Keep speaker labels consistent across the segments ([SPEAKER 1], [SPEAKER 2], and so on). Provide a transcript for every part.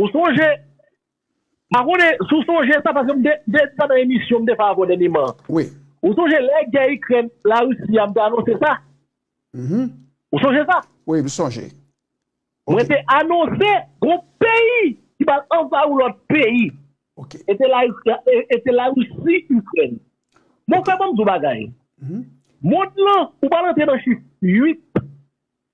[SPEAKER 1] Ou sonje, pa konnen si w sonje sa paske m te di sa nan emisyon m te fè avè w dènyeman an. Wi. Ou sonje
[SPEAKER 2] lè gè
[SPEAKER 1] Ikrèn, Larisi a m te anonse sa? Mh. Ou sonje sa? Wi, m sonje.
[SPEAKER 2] Ok. Mwen te
[SPEAKER 1] anonse gon peyi ki pral anvayi yon lòt peyi. Ok. E te
[SPEAKER 2] Larisi,
[SPEAKER 1] e te Larisi, Ikrèn. Mon frè, ban m di w bagay. Mond lan, ou pral antre nan chif 8.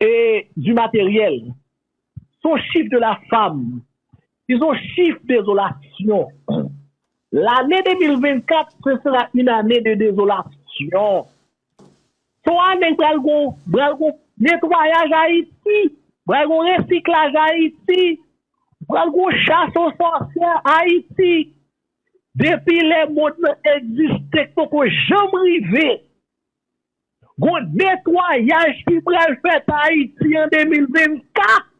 [SPEAKER 1] et du matériel son chif de la fam si son chif dezolasyon lane 2024 se sera yn ane de dezolasyon son ane pral gon pral gon netwayaj ayiti pral gon resiklaj ayiti pral gon chas o sòsyè ayiti depi lè mond lan egziste k poko janm rive Gon netwayaj ki pral fèt Ayiti an 2024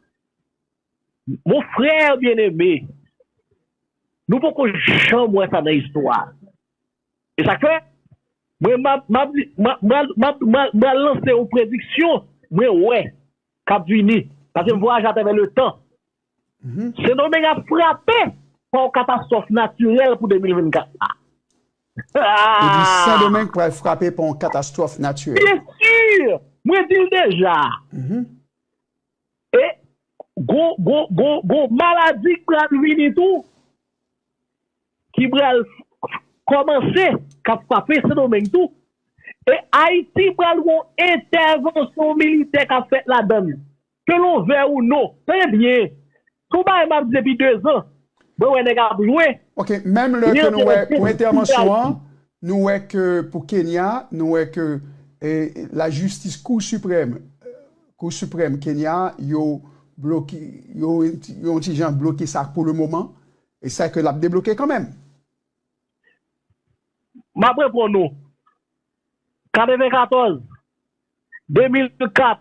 [SPEAKER 1] mon frère bien aimé nou poko janm wè sa nan istwa e sak fè mwen map lanse yon prediksyon mwen wè kap vini paske m vwayaje atravè le tan. Sendomeng ap frape pa yon katastwòf natirèl pou 2024 la. Ou
[SPEAKER 2] di Sendomeng pral frape pa yon katastwòf natirèl. Byen sur!
[SPEAKER 1] Mwen di l deja. E gon maladi k pral vini tou, ki pral kòmanse, k ap frape Sendomeng tou. E Ayiti pral gen yon entèvansyon militè k ap fèt ladann. Ke nou vè ou non. Tande byen. Sou bagay map di depi 2 zan. Mwen wè nèg ap jwe.
[SPEAKER 2] Ok menm lè ke nou wè pou entèvansyon an nou wè ke pou Kenya nou wè ke la jistis kou siprèm kou siprèm Kenya yo bloke yo yon ti jan bloke sa pou le moman e sa ke lap debloke kanmenm.
[SPEAKER 1] Map reponn ou. 94 2004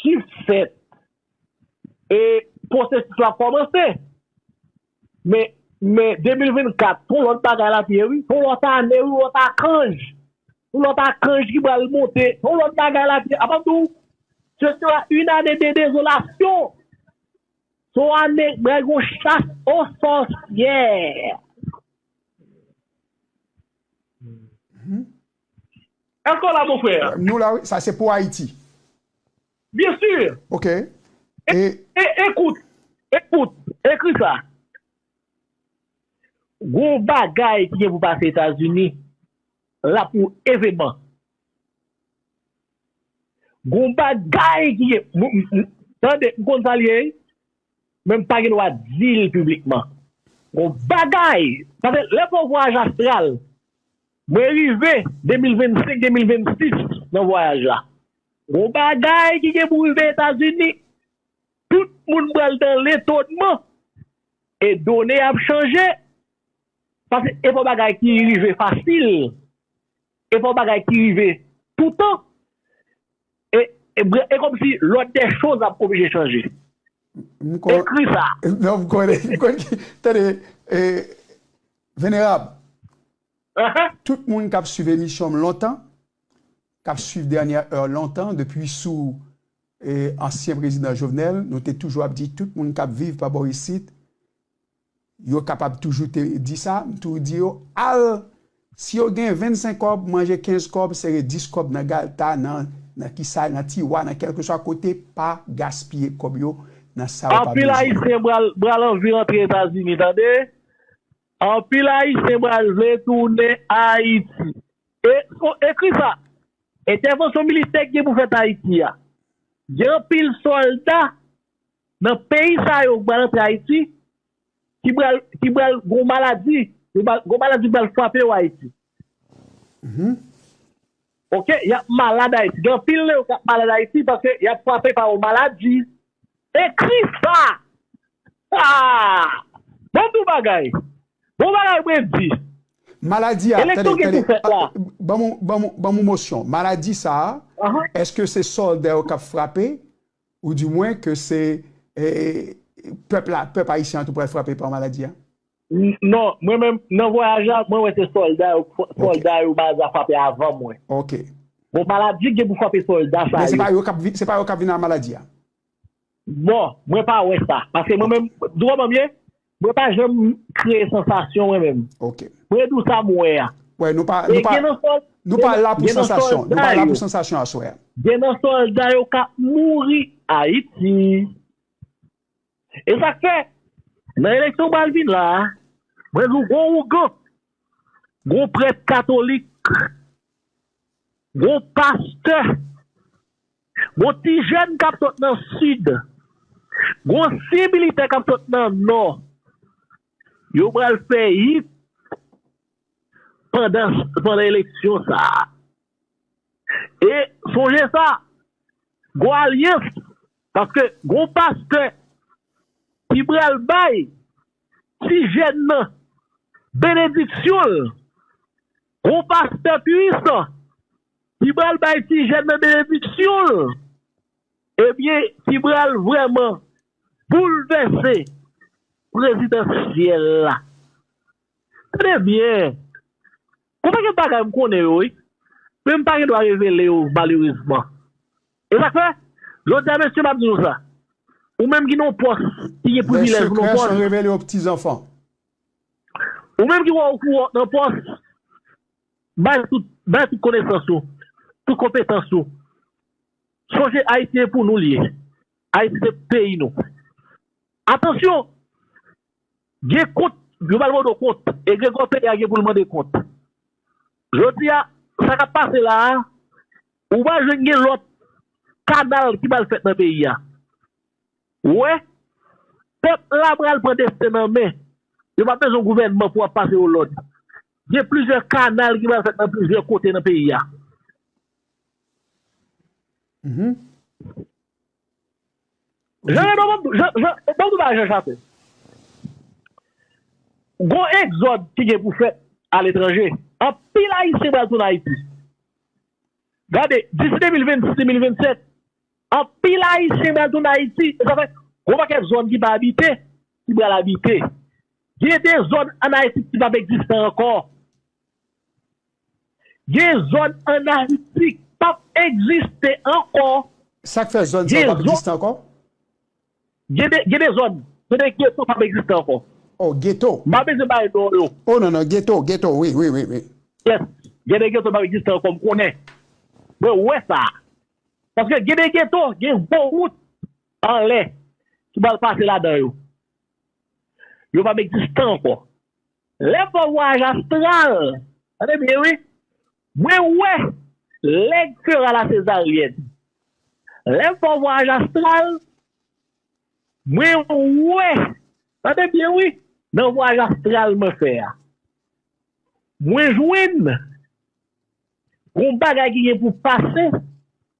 [SPEAKER 1] ki fèt e pwosesis la kòmanse men men 2024 son lòt bagay lap ye wi son lòt ane wi lòt akanj son lòt akanj ki pral monte son lòt bagay lap ye apap diw se sera une année de désolation son ane pral gon chas o sòsyè. Eske w la mon frère? Nou la wi, sa se pou
[SPEAKER 2] Ayiti. Bien
[SPEAKER 1] sûr. Ok. E.
[SPEAKER 2] E
[SPEAKER 1] ekout, ekout, ekri sa. Gon bagay ki gen pou pase Etazini la pou eveman. Gon bagay ki gen, tande, m konn sa l ye wi, men m pa gen dwa di l piblikman. Gon bagay, paske lè fè yon vwayaj astral, Mwen rive 2025 2026 nan vwayaj la gon bagay ki gen pou rive etazini tout moun pral dan letonnman e done ap chanje paske epa bagay ki rive fasil epa bagay ki rive toutan e komsi lòd dè choz ap oblije chanje ekri sa. Non m konnen
[SPEAKER 2] tande venerab Tout moun kap swiv emisyon m lontan, kap swiv dènyè èr lontan depi sou ansyen prezidan Jovenel nou te toujou ap di tout moun kap viv pa bò isit yo kapab toujou te di sa, m toujou di yo al si yo gen 25 kòb manje 15 kòb sere 10 kòb nan galta nan kisa nan tiwa nan kèlkeswa kote pa gaspiye kòb yo nan sa yo pa bezwen. Anpil ayisyen
[SPEAKER 1] bral anvi rantre etazini tande. Anpil ayisyen pral vle tounen Ayiti. E o ekri sa, entèvansyon militè ki gen pou fèt Ayiti a, gen anpil sòlda nan peyi sa yo ki pral antre Ayiti ki pral ki pral gon maladi, gon maladi pral frape yo Ayiti. Ok yap malad ayiti gen anpil nan yo kap malad ayiti paske yap frape pa yon maladi ekri sa aah bon tou bagay bon bagay Wendy Maladi a
[SPEAKER 2] eleksyon ki pou fèt la ban mou mosyon maladi sa eske se solda yo kap frape ou di mwen ke se pèp la pèp ayisyen an tou pral frape pa maladi a. N non,
[SPEAKER 1] mwen menm, nan vwayaj la, mwen wè se sòlda yo, Ok. sòlda yo maladi a frape avan mwen. Ok. Bon,
[SPEAKER 2] maladi
[SPEAKER 1] k gen pou frape sòlda sa Men se yo. pa yo k ap vin, se pa yo
[SPEAKER 2] k ap vin ak maladi a?
[SPEAKER 1] Bon, mwen pa wè sa. Paske mwen Ok. menm, di w kòman m ye? Mwen pa janm kreye sansasyon mwen menm. Ok. Mwen di w sa
[SPEAKER 2] m wè
[SPEAKER 1] a. Wè, nou pa, nou E
[SPEAKER 2] pa, gen nan sòl, nou pa la pou gen nan sansasyon. Nou sòlda pa la pou yo, sansasyon aswè a. gen nan sòlda
[SPEAKER 1] yo k ap mouri Ayiti. E sak fè nan eleksyon pral vin la a mwen di w gon ougan, gon prèt katolik, gon pastè, gon ti jèn kap sot nan sid, gon ansyen militè kap sot nan nò yo pral fè hit pandan eleksyon sa a. E sonje sa, gon alyans, paske gon pastè ki pral bay ti jèn nan benediksyon l, gon pastè puisan ki pral bay ti jèn nan benediksyon l, ebyen ki pral vrèman boulvèse prezidansyèl la. Tande byen! Gon pakèt bagay m konnen yo wi, men m pa gen dwa revele yo malerezman. E sa k fè, jodi a mesye m ap di nou sa, ou menm ki nan yon pòs, ki gen privilèj pou nan yon
[SPEAKER 2] pòs,
[SPEAKER 1] ou menm ki wè w kou wè w nan pòs, bay tout, bay tout konesans ou, tout konpetans ou, sonje Ayiti e pou nou l ye, Ayiti se peyi nou. Atansyon, Gen kont yo pral mande w kont. Egregò peyi a gen pou l mande kont. Jodi a, sa k ap pase la a, ou pa jwenn gen lòt kanal ki pral fèt nan peyi a. Ou wè? Pèp la pral pran desten l an men. Yo p ap bezwen gouvènman pou ap pase yo lòd. Gen plizyè kanal ki pral fèt nan plizyè kote nan peyi a. Jean Raymond banm banm tou bagay Jean Chassin gon egzòd ki gen pou fèt aletranje anpil ayisyen pral tounen ayiti gade disi 2026 2027 anpil ayisyen pral tounen ayiti e sa fè gon pakèt zòn ki pa abite ki pral abite gen de zòn an ayiti ki pap egziste ankò Gen zòn an Ayiti k p ap egziste ankò. Sa k fè zòn sa
[SPEAKER 2] yo p ap egziste ankò?
[SPEAKER 1] Gen de gen de zòn gen de geto p ap egziste ankò. Oh geto. M
[SPEAKER 2] pa bezwen bay non yo.
[SPEAKER 1] Oh non non geto
[SPEAKER 2] geto wi wi wi. Yes
[SPEAKER 1] gen de geto p ap egziste ankò m konnen mwen wè sa a paske gen de geto gen gwo wout anlè ki pral pase ladan yo. Yo p ap egziste ankò. Lè fò vwayaj astral Tande byen wi Mwen wè lè k fera la sezaryèn Lè fò vwayaj astral Mwen wè Tande byen wi Nan vwayaj astral mwen fè a Mwen jwenn Gon bagay ki gen pou pase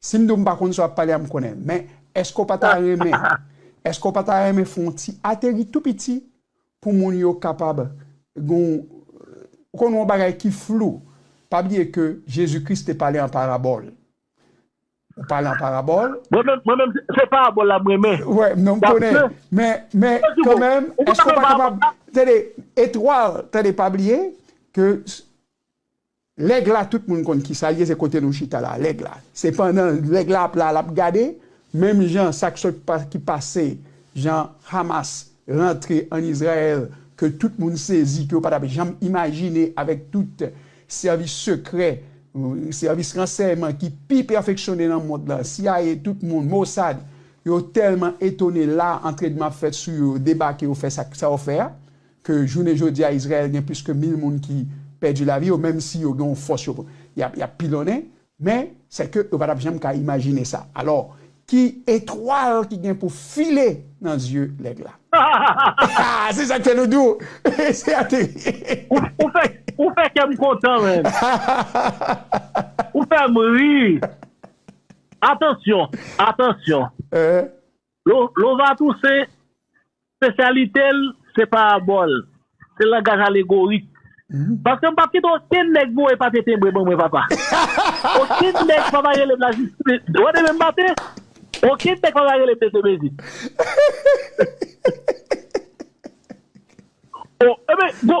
[SPEAKER 2] Si m di w m pa konn sa w ap pale a, m konnen l. Men, èske w pa ta renmen, èske w pa ta renmen fè yon ti ateri tou piti pou moun yo kapab gen yon, ou konn yon bagay ki flou? Pa bliye ke Jezi Kris te pale an parabòl. Ou pale an parabòl. Mwen menm, mwen menm, se
[SPEAKER 1] parabòl la m renmen. Wè, non m konnen.
[SPEAKER 2] Men, men, kanmenm, èske w pa kapab, tande, etwal, tande, pa bliye ke Lèg la tout moun konn kisa l ye se kote nou chita la lèg la se pandan lèg la ap la lap gade menm jan sak sot ki pase jan Hamas rantre an Izrayèl ke tout moun sezi ke yo patap janm imajine avèk tout sèvis sekrè sèvis ransèyman ki pi pèfeksyone nan mond la CIA tout moun Mossad yo tèlman etone la antrenman ap fèt sou yo yo debake yo fè sa yo fè a ke jounen jodi a Izrayèl gen plis ke mil moun ki pèdi lavi yo, menm si yo gen yon fòs yo y ap pilonnen, men sè ke yo pa t ap janm ka imajine sa. Alò, ki etwal ki gen pou file nan zye lèg la? Hahahaha! Se sa k fè nou di w, se ateri! Ou
[SPEAKER 1] fè kè m kontan, menn! Hahahahaha! Ou fè m ri! Atansyon! Atansyon! Lova Toussaint, spesyalite l se parabòl, se langaj alegorik. Paske m pa p kite okenn nèg voye papye tenbre ban mwen papa. Okenn nèg pa va rele m lajistis. Ou tande men m maten? Okenn nèg pa va rele m mesye mezi. Enben, gon.